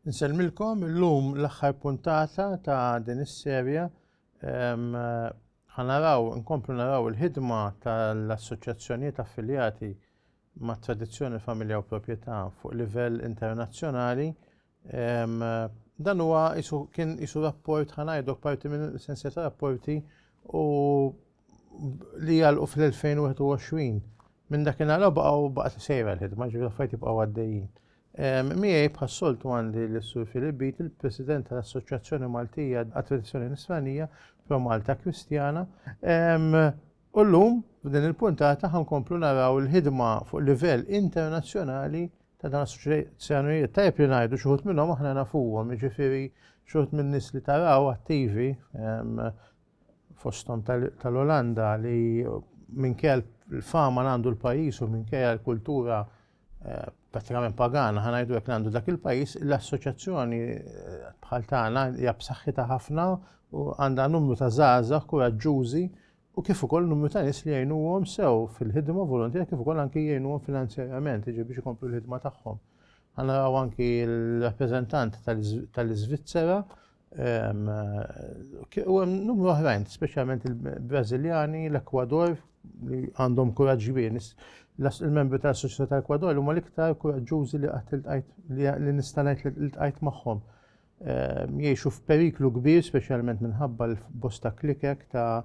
Nsellmilkom illum l-aħħar puntata ta' din is-serja ħanaraw nkomplu naraw il-ħidma tal-assoċjazzjonijiet affiljati mat-tradizzjoni, il-familja u l-proprjetà fuq livell internazzjonali. Dan huwa kien isu rapport ħanajdok parti minn sensja ta' rapporti u li għalqu fl-2021. Minn dakinhar baqgħu baqgħet sejra l-ħidma ġifieri affarijiet jibqgħu għaddejjin. Miegħi bħas-soltu għandi l-Sur Filip Bit, il-President tal-Assoċjazzjoni Maltija għat-Tradizzjoni Nisranija, Pro Malta Kristjana. U llum, f'din il-puntata ħa nkomplu naraw il-ħidma fuq livell internazzjonali ta' dawn l-assoċjazzjonijiet. Tajjeb li ngħidu xi wħud minnhom aħna nafuhom, jiġifieri xi wħud min-nies li taraw attivi ehm, fosthom tal-Olanda li minkejja l-fama għandu l-pajjiż u minkejja l-kultura Eh, pratikament pagana, ħana jdu jek għandu dak il-pajis, l-assoċjazzjoni eh, bħal tagħna hija b'saħħitha ħafna u għandha numru ta' żgħażagħ kuraġġużi u kif ukoll numru ta' nies li jgħinuhom sew fil-ħidma volontiera kif ukoll anki jgħinuhom finanzjarjament jiġi biex ikomplu l-ħidma tagħhom. Ħana raw anki l-rappreżentant tal-Iżvizzera U hemm numru oħrajn, speċjalment il-Brażiljani, l-Ekwador, li għandhom kuraġġ kbir. Il-membri tal-Soċjetà tal-Ekwador huma l-iktar kuraġġużi li qatt iltqajt li nista' ngħid li iltqajt magħhom. Jgħixu f'periklu kbir, speċjalment minħabba l-bosta klikek ta'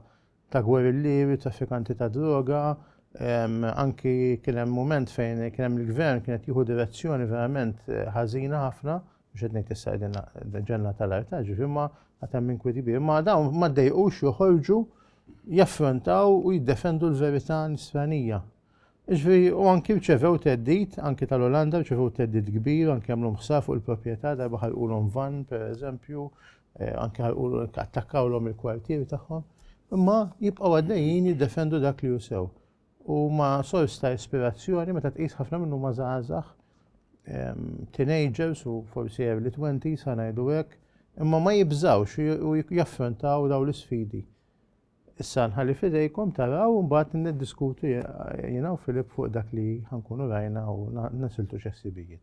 ta' gwerillieri, traffikanti ta' droga, anki kien hemm mument fejn kien hemm il-gvern kien qed jieħu direzzjoni verament eh, ħażina ħafna, mhux qed ngħid issa qegħdin ġenna tal-arta, ġifi ma għad hemm inkwiet kbir, ma dawn ma ddejqux joħorġu jaffrontaw u jiddefendu l-verità nisranija. Ġifi u anki rċevew teddit, anki tal-Olanda rċevew teddit kbir, anki għamlu ħsar fuq il-proprjetà darba ħalqulhom van, per eżempju, Eh, anke attakkawlhom il-kwartieri tagħhom, imma jibqgħu għaddejjin jiddefendu dak li jusew. U ma sors ta' ispirazzjoni meta tqis ħafna minnu ma żgħażagħ teenagers u forsi early 20 sa ngħidu hekk, imma ma jibżawx u jaffrontaw daw l-isfidi. Issa nħalli fidejkom taraw mbagħad niddiskutu jiena u Filip fuq dak li ħankunu rajna u nasiltu x'essibijiet.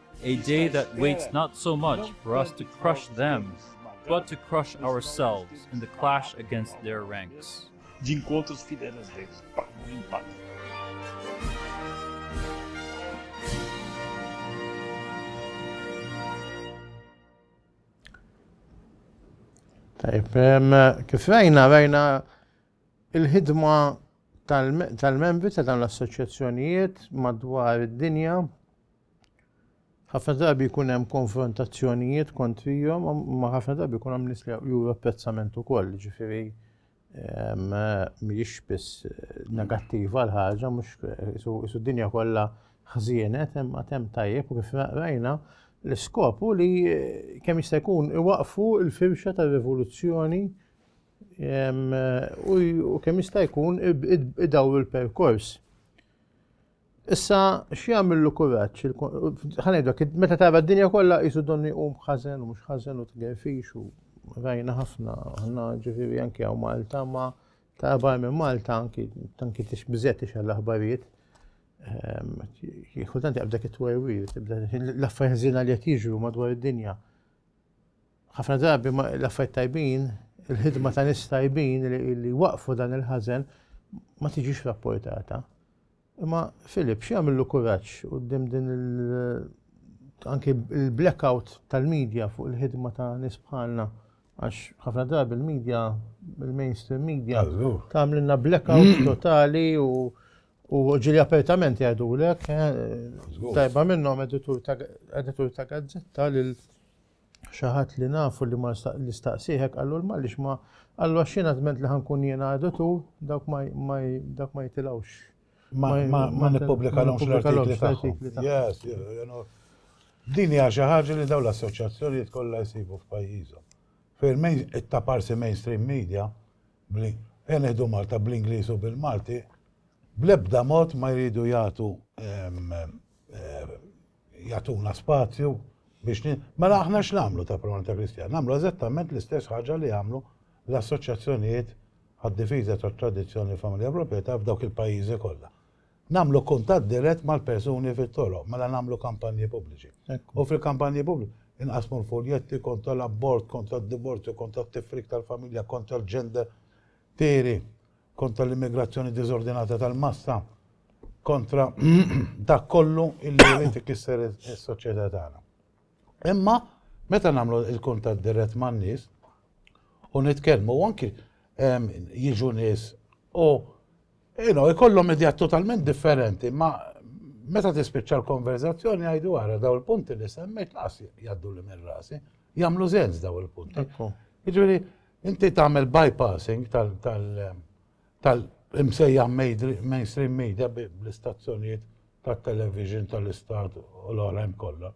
A day that waits not so much for us to crush them, but to crush ourselves in the clash against their ranks. De encontros fidelis deles, pactos em pactos. Tajb, kif rajna, rajna il-ħidma tal-membri ta' dawn l-assoċjazzjonijiet madwar id-dinja Ħafna drabi jkun hemm konfrontazzjonijiet kontrihom, ma ħafna drabi jkun hemm nies li juru apprezzament ukoll, ġifieri ehm, mhijiex biss eh, negattiva l-ħaġa, mhux eh, isu d-dinja kollha ħżienet, hemm hemm tajjeb u kif rajna l-iskop u li eh, kemm jista' jkun iwaqfu l-firxa tar-rivoluzzjoni ehm, u kemm jista' jkun idawru l-perkors. Issa x'jagħmillu kuraġġ? Ħanejdlek, meta tara d-dinja kollha qisu donni u ħażen u mhux ħażen u tgerfix u rajna ħafna, ħna ġifieri anke hawn Malta ma ta' bar minn Malta anki tanki tix biżet tix għall-aħbarijiet. Ehm, Kultant jaqbdek it-twewwir, l-affarijiet li qed jiġru madwar id-dinja. Ħafna drabi l-affarijiet tajbin, il-ħidma ta' nies tajbin li waqfu dan il-ħażen ma tiġix rapportata. Imma Filip, xi għamillu kuraġġ qudiem din anki il-blackout tal-medja fuq il-ħidma ta' nies bħalna għax ħafna drabi il-medja, il-mainstream media, tagħmlilna blackout mm. totali u u ġili apertament jgħidu l-ek, eh, tajba minnom editur ta' gazzetta lil xi ħadd li nafu li ma li staqsih hekk qallu l-Malix ma qallu għax jiena żment li ħankun jiena għadu tu dawk ma dak ma jitilgħux. Ma nippubblikalhomx l-artikli tagħhom. Din hija xi ħaġa li dawn l-assoċjazzjonijiet kollha jsibu f'pajjiżhom. Fejn it-taparsi mainstream media fejn iħdu Malta bl-Ingliż u bil-Malti, bl-ebda mod ma jridu jagħtu ehm, ehm, jagħtuna spazju biex ni... Mela aħna x'namlu ta' Promanita Kristjana? Namlu eżattament l-istess ħaġa li għamlu l-assoċjazzjonijiet għad-difiża tat-tradizzjoni familja proprjetà f'dawk il-pajjiżi kollha. Namlu kuntatt dirett mal-persuni fit-toroq, mela namlu kampanji pubbliċi. U fil-kampanji pubbliċi inqasmu l-fuljetti kontra l-abort, kontra d-divorzju, kontra t-tifrik tal-familja, kontra l-ġender. Tiri, kontra l-immigrazzjoni diżordinata tal-massa, kontra dak kollu illi jrid ikisser is-soċjetà tagħna. Imma meta nagħmlu l-kuntatt dirett man-nies u nitkellmu u anki ehm, jiġu nies u jkollhom idea totalment differenti, ma meta tispiċċa l-konverzazzjoni għajdu għara daw il-punti li semmejt laqas jaddu li minn rasi, jamlu zenz daw il-punti. Iġveri, Inti tagħmel bypassing tal-imsejjaħ mainstream media bl-istazzjonijiet tat-television tal-istat u l-oħrajn kollha.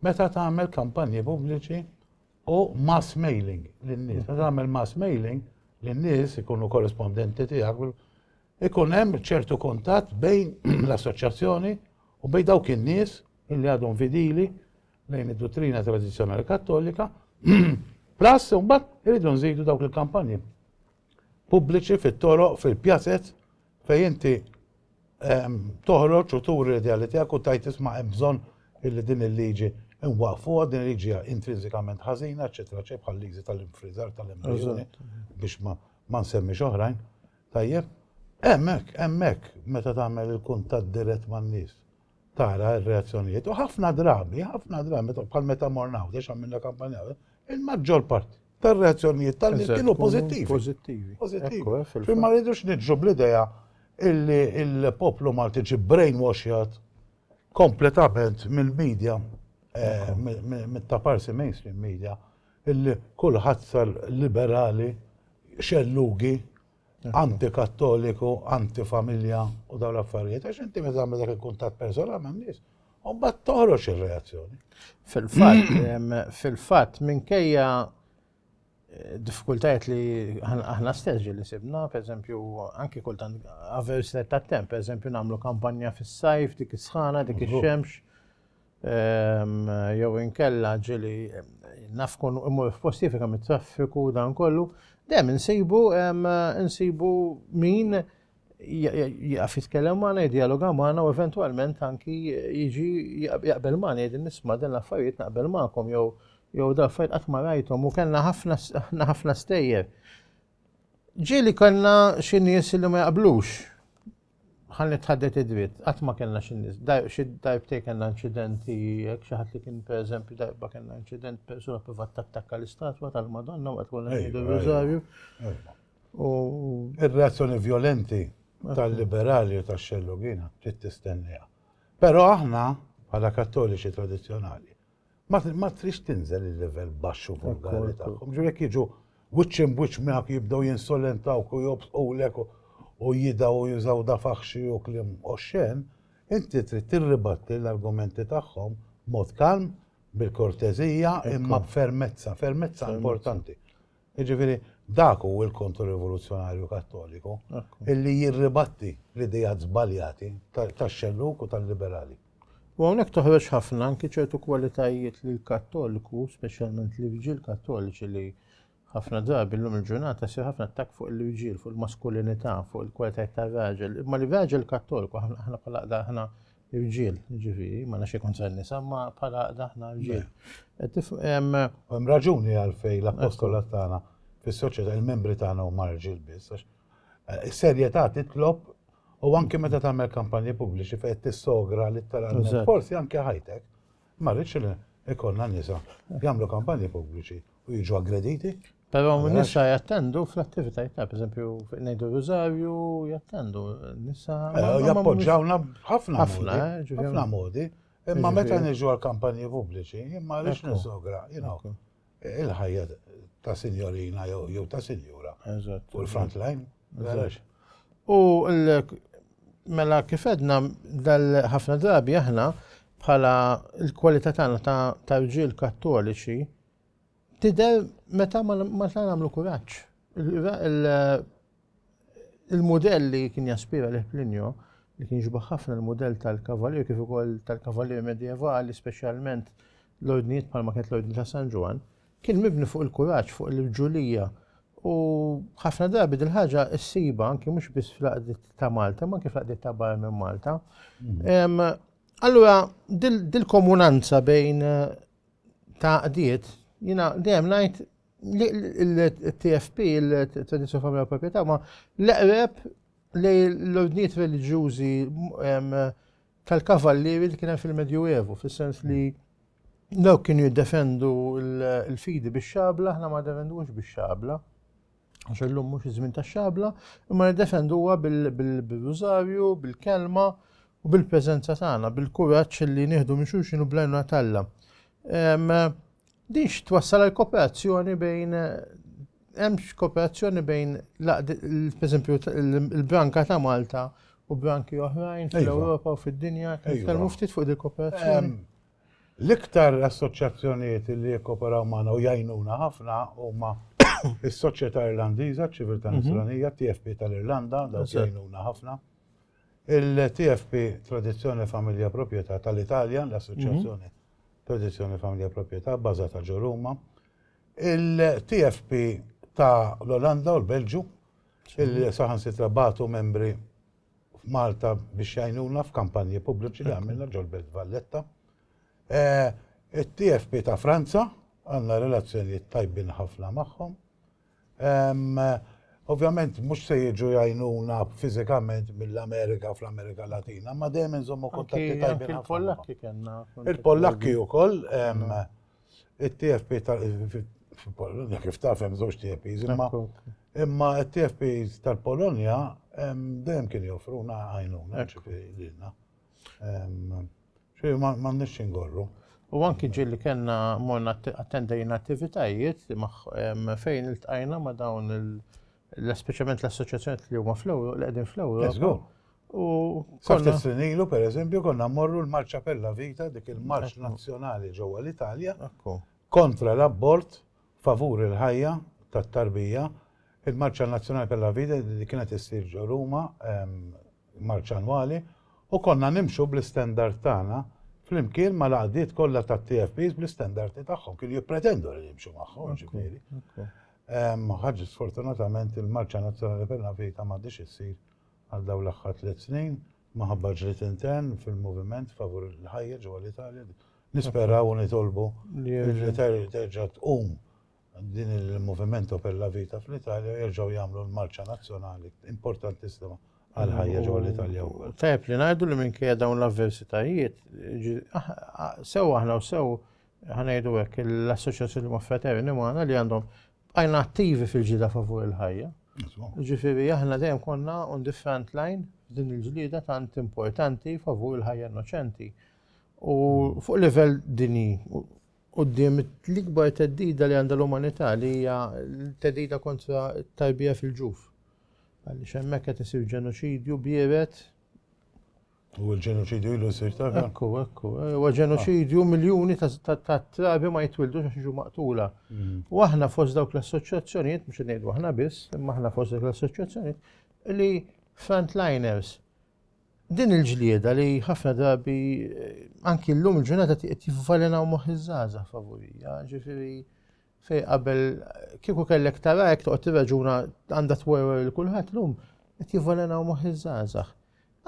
Meta tagħmel kampanji pubbliċi u mass mailing lin-nies, meta tagħmel mass mailing lin-nies ikunu korrespondenti tiegħek, ikun hemm ċertu kuntatt bejn l-assoċjazzjoni u bejn dawk in-nies illi għadhom fidili lejn id-duttrina tradizzjonali kattolika, plus imbagħad irridu nżidu dawk il-kampanji pubbliċi fit-toroq, fil-pjazet, fej inti ehm, toħroġ u turi l-ideali tiegħek u tajt isma' hemm bżonn illi din il-liġi nwaqfu din il-liġi intrinsikament ħażina, eċetera, ċe bħal liġi tal-infrizar tal-embrjoni biex ma nsemmix oħrajn. Tajjeb, hemmhekk, hemmhekk meta tagħmel il-kuntatt dirett man-nies tara r-reazzjonijiet u ħafna drabi, ħafna drabi, bħal meta morna għaw, għax għamilna kampanja, il-maġġor parti tar-reazzjonijiet tal-nies kienu pożittivi. Pożittivi. Pożittivi. Eh, ma rridux nidġu bl-idea illi il-poplu Malti ġi brainwashed kompletament mill-medja, eh, mill-taparsi mainstream media, illi kullħazza liberali xellugi antikattoliku, antifamilja u dawn l-affarijiet, għax inti meta għamil dak il-kuntat personal ma' nies, u mbagħad toħroġ ir-reazzjoni. Fil-fatt, fil-fatt minkejja eh, diffikultajiet li aħna stess li sibna, per eżempju, anki kultant avers ta' temp, per eżempju, nagħmlu kampanja fis-sajf, dik is-sħana, dik ix-xemx, jew inkella ġili naf kun imur f'posti fika mit-traffiku dan kollu, dejjem insibu insibu min jaf jitkellem magħna, jidjaloga magħna u eventwalment anki jiġi jaqbel magħna jgħid nisma' dan l-affarijiet naqbel magħkom jew jew dal-affarijiet qatt ma rajthom u kellna ħafna ħafna stejjer. Ġieli kellna xi nies li ma jaqblux. ħalli tħaddet id-dritt, qatt ma kellna xi nies, xi darbtej kellna inċidenti, jekk xi ħadd li kien pereżempju darba kellna inċident persuna privat tattakka l-istatwa tal-Madonna waqt konna ngħidu r-Rożarju. U ir-reazzjoni vjolenti tal-liberali u tax-xellugina trid tistenniha. Però aħna bħala kattoliċi tradizzjonali ma trix tinżel il-level baxx u vulgari tagħhom. Ġifieri jekk jiġu wiċċ imwiċċ miegħek jibdew jinsolentawk u jobsqulek u jidaw u jużaw da faħxi u kliem oxxen, inti trid tirribatti l-argumenti tagħhom b'mod kalm, bil-korteżija imma b'fermezza, fermezza importanti. Jiġifieri dak hu l-Kontrorivoluzzjonarju Kattoliku illi jirribatti l-ideat żbaljati tax-xellug u tal-liberali. U hawnhekk toħroġ ħafna anki ċertu kwalitajiet li l-Kattoliku, speċjalment l-irġiel Kattoliċi li ħafna drabi llum il-ġurnata jsir ħafna attakk fuq l-irġiel, fuq il-maskulinità, fuq il-kwalitajiet tar-raġel, imma li raġel Kattoliku aħna bħala aħna Irġiel, ġifiri, ma nafx ikun ser nisa, ma bħala daħna irġiel. Hemm raġuni għalfej l-apostolat tagħna fis-soċjetà il-membri tagħna huma rġiel biss. Eh, is-serjetà titlob u anke meta tagħmel kampanji pubbliċi fejn tissogra li tara forsi anke ħajtek. Ma rridx li jkollna nisa jagħmlu kampanji pubbliċi u jiġu aggrediti. Però nisa jattendu fl-attivitajiet ta' pereżempju ngħidu Rużarju jattendu nisa. Eh, jappoġġawna ħafna ħafna eh, ħafna modi. Imma meta niġu għal kampanji pubbliċi, imma għaliex niżogra, Il-ħajja ta' sinjorina jew ta' sinjura. Eżatt. U l-front line. Eżatt. U mela kif edna ħafna drabi aħna bħala l-kwalità tagħna ta' rġiel kattoliċi tidher meta ma nagħmlu kuraġġ. Il-mudell li kien jaspira lih Plinio, li kien jixbaħ ħafna l-mudell tal-kavallier kif ukoll tal-kavallier medjevali, speċjalment l-ordnijiet bħalma kienet l-Ordni ta' San Ġwann, kien mibni fuq il-kuraġġ, fuq l-irġulija, u ħafna drabi din ħaġa ssibha anki mhux biss fl-għaqdiet ta' Malta, ma anki fl-għaqdiet ta' barra minn Malta. Mm. Allura, dil-komunanza bejn ta' għaqdiet, jina dejjem ngħid Il-TFP, il-Tradizzjoni Familja Proprjetà, ma l-eqreb li l-ordnijiet reliġjużi tal-kavallieri li kien hemm fil-Medju Evu, fis-sens li dawk kienu jiddefendu l-fidi bix-xabla, aħna ma defendux bix-xabla, għax illum mhux iż-żmien tax-xabla, imma niddefenduha bil-rużarju, bil-kelma u bil-preżenza tagħna, bil-kuraġġ li nieħdu minn xulxin u blajnuna talla. Din x'twassal għal kooperazzjoni bejn hemm kooperazzjoni bejn pereżempju l-branka ta' Malta u branki oħrajn iva. fl-Ewropa u fid-dinja, iva. nitkellmu ftit fuq dik kooperazzjoni. L-iktar assoċjazzjonijiet li jikkooperaw magħna u jgħinuna ħafna huma is-Soċjetà Irlandiża, ċ-Ċiviltà mhm. Nisranija, TFP tal-Irlanda, dawk jgħinuna ħafna. Il-TFP Tradizzjoni Familja Proprjetà tal-Italja, l-Assoċjazzjoni Tradizzjoni Familja Proprjetà bbażata ġo Ruma, il-TFP ta' l-Olanda u l-Belġju, illi saħansitra bagħtu membri f'Malta biex jgħinuna f'kampanji pubbliċi li għamilna ġol-Belt Valletta. It-TFP ta' Franza għandna relazzjonijiet tajbin ħafna magħhom. Ovvjament mhux se jiġu jgħinuna fiżikament mill-Amerika fl-Amerika Latina, ma dejjem inżommu kontatti tajbin. Il-Pollakki kellna. Il-Pollakki wkoll it-TFP fil-Polonja kif taf hemm żewġ TFPs imma imma t-TFPs tal-Polonja dejjem kien joffruna għajnuna ġifieri lilna. Xej, ma nix ingorru. U anki ġil li kena morna attendajna attivitajiet fejn il-tqajna ma dawn l-speċament l-assoċjazzjoni li huma fl-Ewro, li qegħdin fl-Ewro. U konna sinilu per eżempju konna morru l-Marċa Pella Vita dik il-Marċ Nazzjonali ġewwa l-Italja kontra l-abbord favur il-ħajja tat-tarbija, il-Marċa Nazzjonali per la Vida li kienet issir ġo Ruma, marċa annwali, u konna nimxu bl-istandard tagħna flimkien mal-għaqdiet kollha tat-TFPs bl-istandardi tagħhom, kienu jippretendu li nimxu magħhom ġifieri. Ħaġa sfortunatament il-Marċa Nazzjonali per la Vida m'għadhiex issir għal dawn l-aħħar tliet snin. minħabba ġlied intern fil-moviment favur il-ħajja ġewwa l-Italja. Nisperaw u nitolbu li terġa' tqum din il-moviment Opel la Vita fl-Italja jerġgħu jagħmlu l-marċa nazzjonali importantissima għal ħajja ġewwa l-Italja wkoll. Tajb li ngħidu li minkejja dawn l-avversitajiet, ah, ah, sew aħna u sew ħanejdu hekk l-assoċjazzjoni ma' fraterni magħna li għandhom Bqajna attivi fil-ġida favur il-ħajja. Ġifiri, aħna dejjem konna on the front line din il-ġlida tant importanti favur il-ħajja innoċenti. U hmm. fuq livell dini, u d-dim l-ikbar teddida li għanda l-umanità li hija teddida kontra tarbija fil-ġuf. Għalli xemmek qed isir ġenoċidju bieret U l-ġenoċidju ilu jsir ta' Ekku, ekku. Eh, u ġenoċidju miljuni ta' trabi ma jitwildu għax jiġu maqtula. Mm. U aħna fost dawk l-assoċjazzjonijiet, mhux ngħidu aħna biss, imma aħna fost dawk l-assoċjazzjonijiet li frontliners din il-ġlieda li ħafna drabi eh, anki llum il-ġurnata qed jivvalenaw moħħ iż-żgħażagħ favorija, ġifieri Fej qabel kieku kellek tara hekk toqgħod tirraġuna għandha twerwer il kulħadd lum qed jivvelenaw moħħ iż-żgħażagħ.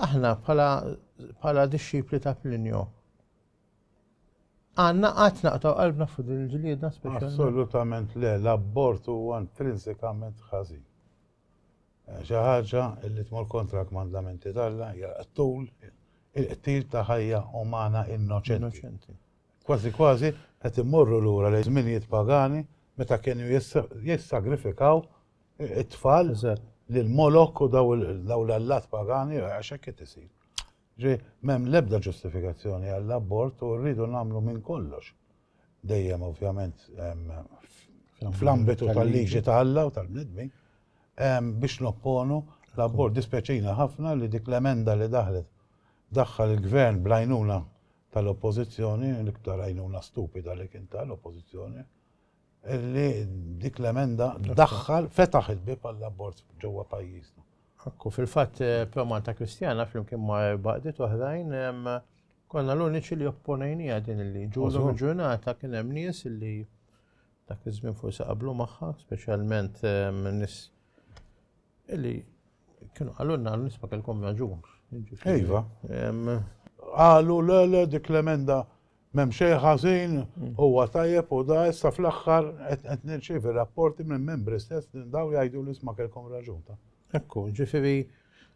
Aħna bħala dixxipli ta' Plinio għandna qatt naqtaw qalbna fuq din il-ġlieda speċjali. Assolutament le, l-abort huwa intrinsikament ħażin. Eh, xi ħaġa li tmur kontra l-kmandamenti tal-Alla hija tul il-qtil ta' ħajja umana innoċenti. Kważi kważi qed immorru lura lejn żminijiet pagani meta kienu jissagrifikaw it-tfal lil Molok u dawn l-allat pagani għax hekk qed isir. Ġifieri m'hemm l-ebda ġustifikazzjoni għall-abort u rridu nagħmlu minn kollox, dejjem ovvjament fl-ambitu tal-liġi ta' Alla u tal-bnedmin, biex nopponu l-abort. Dispjaċina ħafna li dik l-emenda li daħlet daħħal il-Gvern bl-għajnuna tal-Oppożizzjoni, l-iktar għajnuna stupida li kien ta' l-Oppożizzjoni, li dik l-emenda daħħal fetaħ il-bib għall-abort ġewwa pajjiżna. Ekku, fil-fatt eh, Promanta Kristjana flimkien ma' baqdiet oħrajn konna l-uniċi li opponejnija din li ġużu ġurnata kien hemm nies li dak iż-żmien forsi qablu magħha, speċjalment nies li Kienu għalunna għal nisma kelkom raġun. Iva. Għalu le le dik l-emenda mem xej ħażin mm. huwa tajjeb u da issa fl-aħħar qed nirċievi rapporti minn membri stess li daw jgħidu li sma kelkom raġun ta'. Ekku, ġifieri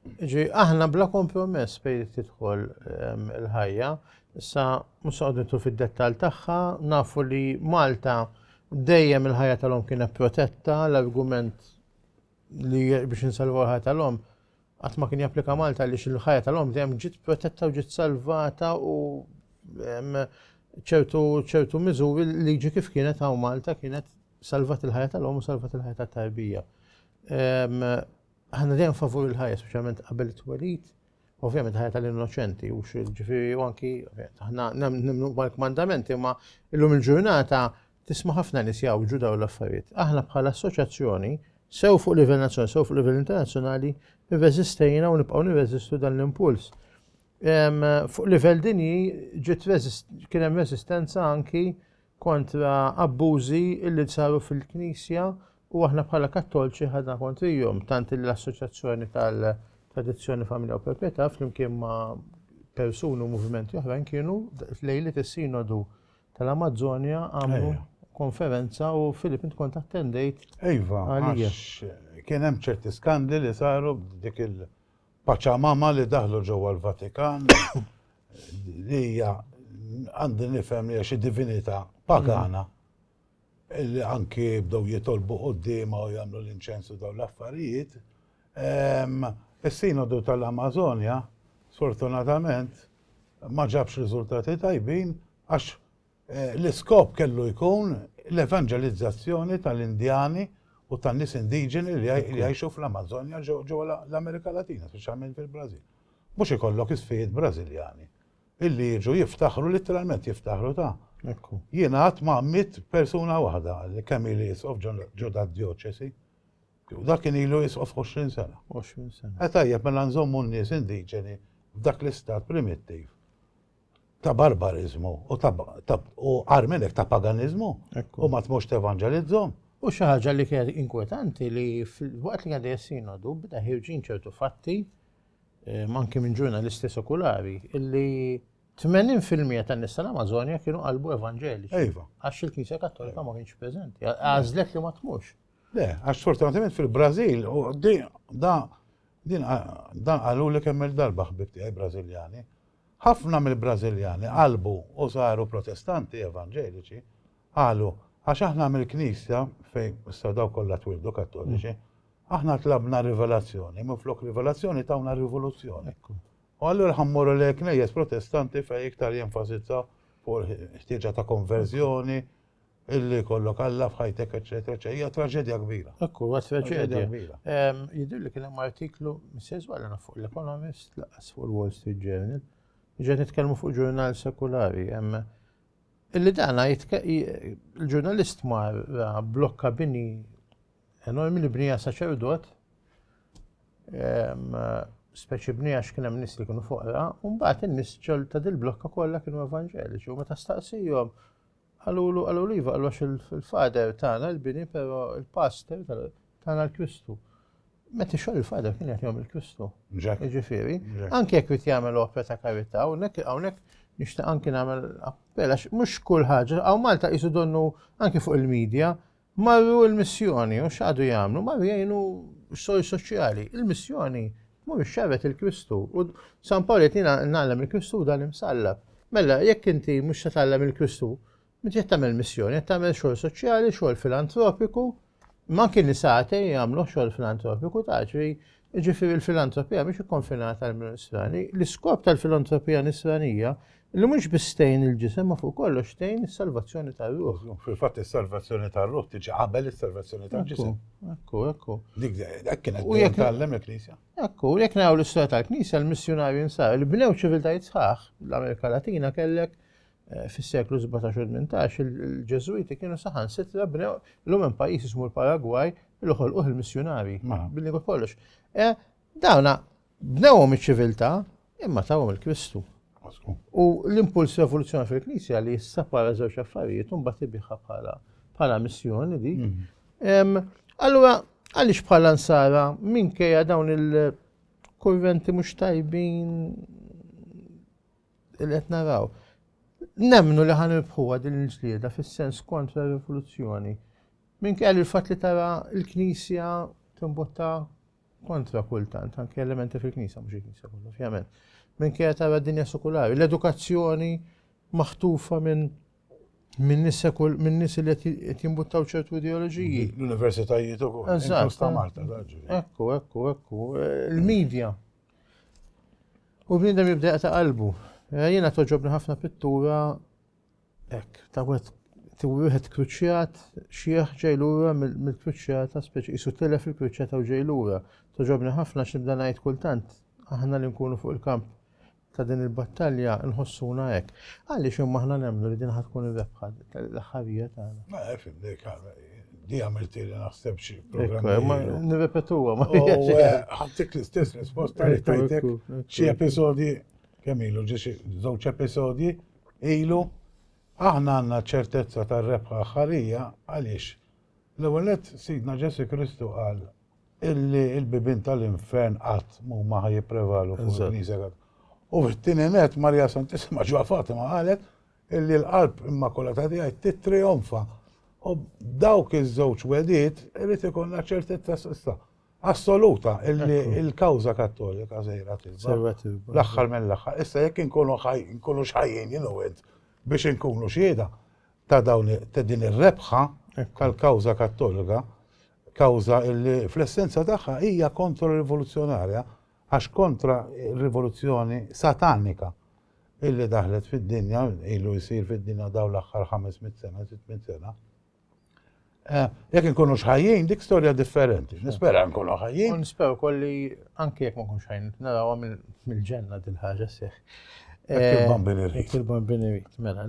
ġi aħna bla kompromess bej tidħol il-ħajja, issa musaqditu fid-dettal tagħha, nafu li Malta dejjem il-ħajja tal-om kienet protetta, l-argument li biex insalvaw il-ħajja tal-om qatt ma kien japplika Malta għaliex il-ħajja tal-om dejjem ġiet protetta u ġiet salvata u ċertu ċertu miżuri liġi kif kienet hawn Malta kienet salvat il-ħajja tal-om u salvat il-ħajja tat-tarbija. Aħna dejjem favur il-ħajja, speċjalment qabel it-twelid, ovvjament ħajja tal-innoċenti u ġifieri u anki aħna nemmnu mal-kmandamenti, ma illum il-ġurnata Tisma' ħafna nies jgħawġu dawn l-affarijiet. Aħna bħala assoċjazzjoni, sew fuq livell nazzjonali sew fuq livell internazzjonali, irreżistejna u nibqgħu nirreżistu dan l-impuls. Fuq livell dinji kien hemm reżistenza anki kontra abbużi illi saru fil-Knisja u aħna bħala Kattolċi ħadna kontrihom tant l-Assoċjazzjoni tal-Tradizzjoni Familja u Proprjetà flimkien ma' persuni u movimenti oħrajn kienu lejli is-sinodu tal-Amazzonja għamlu konferenza u Filip int kont attendejt. Iva, kien hemm ċerti skandli li saru dik il-paċamama li daħlu ġewwa l-Vatikan li hija għandi nifhem li xi divinità pagana. li anki bdew jitolbu quddiemha u jagħmlu l-inċens u dawn l-affarijiet, is-Sinodu tal-Amażonja sfortunatament ma ġabx riżultati tajbin għax l-iskop kellu jkun l-evanġelizzazzjoni tal-Indjani u tan-nies indiġeni li jgħixu fl-Amażonja ġewwa l-Amerika Latina, speċjalment fil-Brażil. Mhux ikollok isfijiet Brażiljani Illi jiġu jiftaħru, literalment jiftaħru ta' Ekku. jiena għat ma' mit persuna waħda li kemm ili jisqof ġo da' dioċesi. U dak kien ilu jisqof 20 sena. 20 sena. E tajjeb mela nżommu n-nies indiġeni f'dak l-istat primittiv ta' barbarizmu u ta' u armenek ta' paganizmu u ma tmux tevangelizzom. U xi ħaġa li kienet inkwetanti li fil-waqt li għadha jessinodu bda ħirġin ċertu fatti Ehm, anki minn ġurnalisti sekulari, illi 80% tan-nisa l-Amazonja kienu qalbu evanġeliċi. Iva. Għax il-Knisja Kattolika ma kienx preżenti. Għażlet li ma tmux. Le, għax sfortunatament fil-Brażil, din qalu li kemm il-darba ħbib tiegħi Brażiljani, ħafna mill-Brażiljani qalbu u saru protestanti evanġeliċi, qalu għax aħna mill-Knisja fejn s-sadaw kollha twildu kattoliċi, Aħna tlabna rivelazzjoni, minflok rivelazzjoni tawna rivoluzzjoni. U allura ħammorru li knejjes protestanti fej iktar jenfasizza fuq ħtieġa ta' konverżjoni, illi kollok Alla f'ħajtek, eċetera, eċetera. Hija traġedja kbira. Ekku, huwa traġedja kbira. Jidir li kien hemm artiklu Mrs. Wallana fuq l-Economist laqas fuq il-Wall Street Journal. Ġed nitkellmu fuq ġurnal sekulari, hemm illi dana il-ġurnalist mar blokka bini enormi li bnija saċerdot, speċi bnija x'kien hemm nies li kienu foqra, u mbagħad in-nies ġol ta' dil-blokka kollha kienu evanġeliċi u meta staqsihom għalulu għalu liva għalu il-fader tagħna l-bini però il-pastor tagħna l-Kristu. Meta xogħol il-fader kien qed jagħmel il-Kristu. Ġifieri, anke jekk qed jagħmel opera ta' karità, hawnhekk hawnhekk nixtieq anke nagħmel appella mhux kull ħaġa, hawn Malta qisu donnu anke fuq il-medja, Marru l-missjoni u x'għadu jagħmlu? Marru jgħinu s-sors soċjali. Il-missjoni tmur ixxerret il-Kristu u San Pawl qed jiena nagħlem il-Kristu dan imsallab. Mela jekk inti mhux se tgħallem il-Kristu, meta qed tagħmel missjoni, qed tagħmel xogħol soċjali, xogħol filantropiku, ma kien nisate jagħmlu xogħol filantropiku ta' ġri Jiġifieri l-filantropija mhix ikkonfinata għal min nisrani. L-iskop tal-filantropija nisranija li mhux biss tgħin il-ġisem ma fuq kollox tgħin is-salvazzjoni tar-ruħ. Fil-fatt is-salvazzjoni tar-ruħ tiġi qabel is-salvazzjoni tal-ġisem. Ekku, ekku. Dik hekk kienet u jekk tgħallem il-Knisja. Ekku, jekk naraw l-istorja tal-Knisja l-missjunarji nsar li bnew ċiviltajiet sħaħ l-Amerika Latina kellek eh, fis-seklu 17 u 18 il-Ġeżwiti kienu saħansitra bnew l-lum hemm pajjiż ismu l-Paragwaj li ħolquh il-missjunari mela. billi kollox. Eh, dawna bnewhom iċ-ċiviltà imma tawhom il-Kristu. U l-impuls revoluzzjoni fil-Knisja li jissapara żewġ affarijiet un bat ibiħa bħala bħala missjoni di. Mhm. Allura, għaliex bħala nsara minkejja dawn il-kurventi mhux tajbin li qed naraw. Nemmnu li ħan irbħuha din il-ġlieda fis-sens kontra r-rivoluzzjoni. Minn kell il-fatt li tara l-Knisja timbotta kontra kultant, anke elementi fil-Knisja, mhux il-Knisja kollu, ovvjament. Minn kell tara d-dinja sekulari, l-edukazzjoni maħtufa minn minn nisekul minn nis li qed jimbuttaw ċertu ideoloġiji. L-universitajiet ukoll. Eżatt. Ekku, ekku, ekku. Il-medja. U bniedem jibda jaqta' qalbu. Eh, jiena toġobni ħafna pittura hekk, ta' wieħed wieħed kruċjat xieħ ġej lura mill-kruċjata speċi isu tilef il-kruċjata u ġej lura. Toġobni ħafna x'nibda ngħid kultant aħna li nkunu fuq il-kamp ta' din il-battalja nħossuna hekk. Għaliex imma aħna nemmnu li din ħad tkun ir-rebħa l-aħħarija tagħna. Ma fimni Di għamilt li naħseb xie programm. Nirrepetuwa, ma ħattik l-istess risposta li tajtek xie episodi kemm ilu ġiex żewġ episodi ilu aħna għandna ċertezza tar-rebħa ħarija għaliex l-ewwel Sidna Ġesu Kristu qal illi l-bibin tal-infern qatt mhuma ħaj jipprevalu fuq il-Knisja. U fit-tieni net Marja Santissima ġwa Fatima qalet illi l-Qalb Immakulata tiegħi tittrijonfa. U dawk iż-żewġ wedid irid ikollna ċertezza s'issa assoluta illi l-kawża Kattolika sejra tilba. L-aħħar mill-aħħar. Issa jekk inkunu nkunu xħajjin jien biex inkunu xieda ta' dawn ta' din ir-rebħa tal-kawża Kattolika, kawża illi fl-essenza tagħha hija kontro-rivoluzzjonarja Għax kontra r-rivoluzzjoni satanika illi daħlet fid-dinja, ilu jsir fid-dinja dawn l-aħħar ħames mitt sena, sitt mitt sena, eh, jekk inkunux ħajjin, dik storja differenti. Nispera nkunu ħajjin. Nispera wkoll li anke jekk ma nkunx ħajjin, narawha mill-ġenna din ħaġa seħ. Il-bambini eh, rrit. Il-bambini rrit, mela.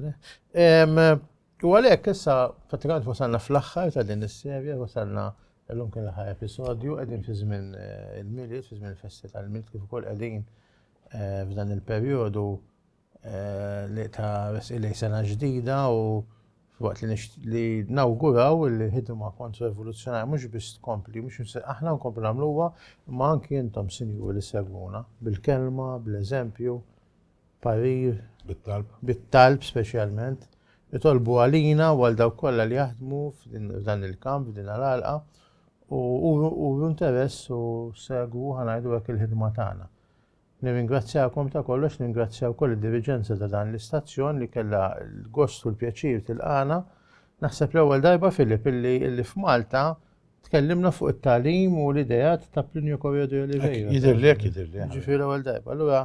U għalhekk issa pratikament wasalna fl-aħħar ta' din is-serje, wasalna llum kien l-aħħar episodju, qegħdin fi żmien eh, il-milied, fi żmien il-festi tal-milied kif ukoll qegħdin eh, f'dan il-perjodu eh, li ta' resqilej sena ġdida u waqt li li nawguraw li ħidma kontra rivoluzzjonarja mhux biss tkompli, mhux aħna nkomplu nagħmluha, ma anki intom sinjuri li segwuna bil-kelma, bl-eżempju, parir bit-talb speċjalment jitolbu għalina u għal dawk kollha li jaħdmu f'dan il-kamp, f'din għal-għalqa, u interess u segwu ħanajdu hekk il-ħidma tagħna. Nirringrazzjakom ta' kollox, ningrazzjaw koll id-diriġenza ta' dan l-istazzjon li kellha l-gost u l-pjaċir tilqana. Naħseb l-ewwel darba Filip illi f'Malta tkellimna fuq it-talim u l-idejat ta' Plinio Corredo Oliveira. Jidirlek, jidirlek. Ġifieri l-ewwel darba. Allura